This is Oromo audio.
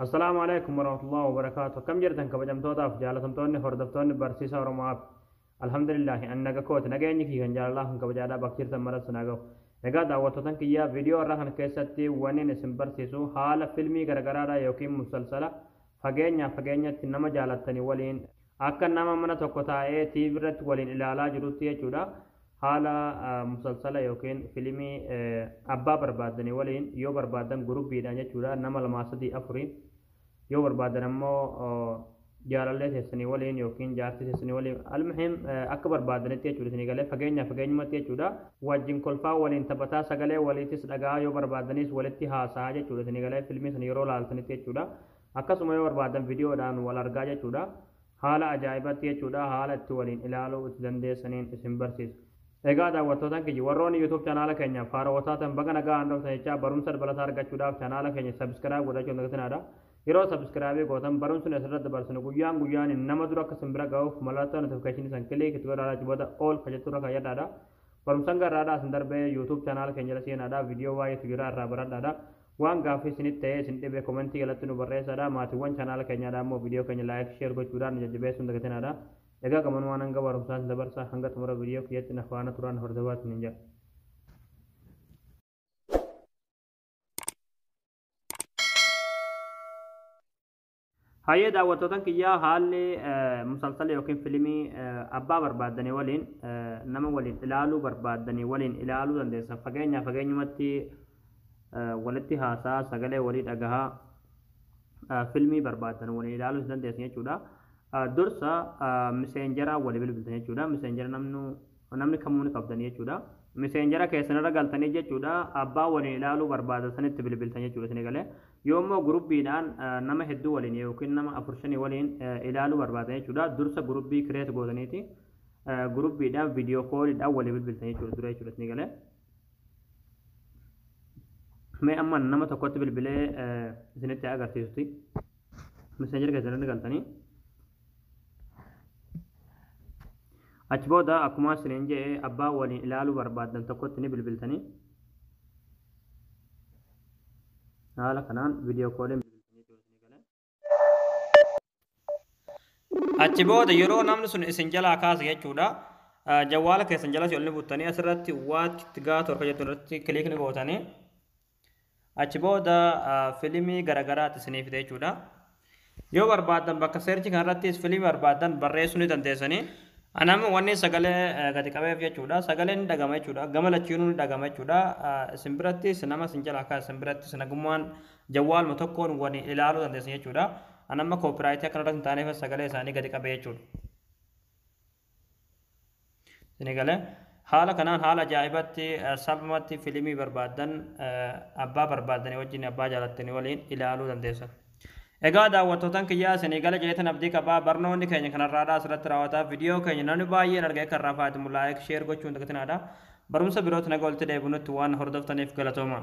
Assalaamu alaikum warahmatullahi wabarakaatu akkam jirtan kabajamtootaaf jaalatamtoonni hordoftoonni barsiisa oromoaf alhamdulillahi an naga kooti nageenyi kii kan jaalalaa kan kabajaadhaa bakka jirtan maratti naa gahu egaa daawwattootan kiyyaa viidiyoo irraa kana keessatti waniin isin barsiisu haala filmii garagaraadha yookiin musalsala fageenyaa fageenyatti nama jaalattanii waliin Akka nama mana tokko taa'ee TV irratti waliin ilaalaa jirutti jechuudha. Haala musalsala yookiin filimii abbaa barbaaddanii waliin yoo barbaaddan gurubbiidhaan jechuudha nama lamaa sadii afurii yoo barbaaddan ammoo jaalallee teessanii waliin yookiin jaartii teessanii waliin almuhiim akka barbaaddanitti jechuudha isinii galee fageenyaa fageenyumatti jechuudha wajjin kolfaa waliin taphataa sagalee waliitis dhagaa yoo barbaaddanis walitti haasaa jechuudha isinii galee filmii sana yeroo laaltanitti jechuudha Akkasuma yoo barbaadan video dhaan wal argaa jechuudha. Haala ajaa'ibatti jechuudha haala itti waliin ilaaluu itti dandeessaniin isin barsiisa. Egaa daawwattootan kiyya warroonni YouTube chanaala keenyaaf haarawa taatan baga nagaan dhuftan jechaa barumsa dabalataa argachuudhaaf chanaala keenya subscribe godhachuu hin dagatinaa. Yeroo subscribe gootan barumsni asirratti dabarsinu guyyaan guyyaan nama dura akka isin bira ga'uuf mallattoo notification san click itti godhaa achi booda all kan jettu irra kayyadhaadha. Barumsan garraadhaa isin darbee YouTube chanaala keenya irra seenaadha. Video baay'eetu jira irraa baradhaadha. Waan gaaffii isinitti ta'ee isin dhibe komentii jalatti nu barreessaadha. Maatiiwwan chaanaala keenyaadha ammoo viidiyoo keenya like, share gochuudhaan nu jajjabeessuu hin dagatinaadha. Egaa gamanumaan hanga barumsaa isin dabarsa hanga xumura viidiyoo kiyyatti na faana turaa na hordofaa isiniin jedha. Hayyee daawwattootan kiyyaa haalli musalsala yookiin filimii abbaa barbaaddanii waliin nama waliin ilaaluu barbaaddanii waliin ilaaluu dandeessan fageenyaa fageenyumatti walitti haasaa sagalee walii dhagahaa filmii barbaaddan waliin ilaaluu dandeessan jechuudha. Dursa miseenjaraa wali bilbiltan jechuudha. Miseenjara namnu Namni kamuu ni qabdanii jechuudha. Miseenjera keessan irra galtanii jechuudha abbaa waliin ilaaluu barbaadan sanitti bilbiltan jechuudha isinii galee. Yoo immoo guruppiidhaan nama hedduu waliin yookiin nama afur shanii waliin ilaaluu barbaadan jechuudha dursa gurupii create gootaniiti guruppiidhaan video call dhaan walii bilbiltan jechuudha dura jechuudha isinii galee. Mee amma nama tokkotti bilbilee isinitti agarsiisuti. messenger keessan irra galtanii achi booda akkuma isiniin jedhe abbaa waliin ilaaluu barbaaddan tokkotti ni bilbiltanii haala kanaan viidiyoo kooliin achi booda yeroo namni sun isin jalaa kaasa jechuudha jawwaala keessan jalas ol ni buttanii asirratti waatti gaa torka jettu irratti kiliikni gootanii Achi booda filimii garagaraati isinii fida jechuudha. Yoo barbaaddan bakka seerchi kanarrattis filimii barbaaddan barreessuu ni dandeessanii. Anammoo wanni sagalee gadi qabeef jechuudha. Sagaleen ni dhagama jechuudha. Gama lachiinuu ni dhagama jechuudha. Isin birattis nama isin jala akka isin birattis nagummaan jawwaaluma tokkoon wani ilaaluu dandeessan jechuudha. Anamma koopiraayitii akkanarratti hin taaneef sagalee isaanii gadi qabee jechuudha. Isinii galee? Haala kanaan haala ajaa'ibaatti, salphumatti filimii barbaaddan abbaa barbaaddanii wajjin, abbaa jaalattanii waliin ilaaluu dandeessan. Egaa daawwattootan kiyyaa isinii gale jeetan abdii qaba. Barnoonni keenya kan har'aadhaa asirratti raawwata. Vidiyoo keenya namni baay'een argee kan irraa faayadamu like, share gochuu hin dagatinaa dha. Barumsa birootti naga walitti deebinutti waan na hordoftaniif galatoomaa.